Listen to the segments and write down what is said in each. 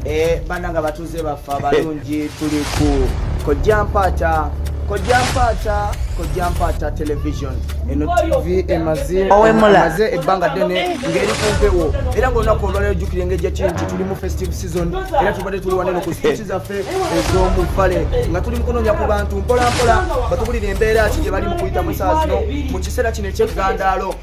Eh, bana nga batuze baffe abalungi eh. tuli ku kojja mpaata kojja mpaata kojja mpaata television eno tv emaze ebbanga ddene ng'eri ku mpewo era ngaolunaku olwalero jjukira engeri gyakiri nti tuli mu festive season era tubadde tuli waneno ku sipiiki zaffe ez'omu ffale nga tuli mukunoonya ku bantu mpolampola batubulira embeera ki gye bali mu kuyita mu saa zino mu kiseera kino eky'eggandaalo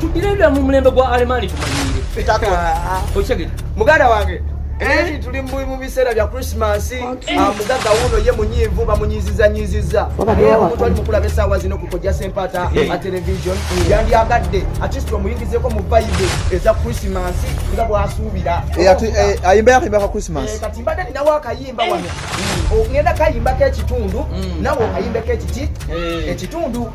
tugire bya mu mulembe gwa alemaani tumanyiire muganda wange eri tuli mu biseera bya krisimansi mugagga wuuno ye munyiivu bamunyiizizanyiizizza omuntu ali mukulaba esaawa zino kukojja sempaata a television yandyagadde atist omuyingizeko mu bayibu eza krisimansi nga bwasuubira ayimba yakayimbaka krisimansi kati mbadde ninawo akayimba wano ogenda kayimbako ekitundu nawe okayimbeko ekiti ekitundu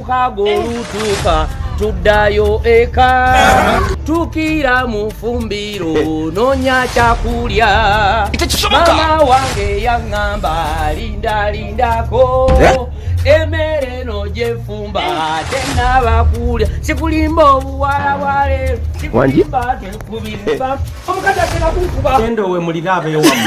kago olutuuka tuddayo eka tukira mu fumbiro nonya kyakulya mama wange yaŋŋamba lindalindako eh? emere no gyefumba tenabakulya sikulimba obuwala bwaleero sikulimba tekubiriba omukazi atera kunkuba endowe mulirabeewamu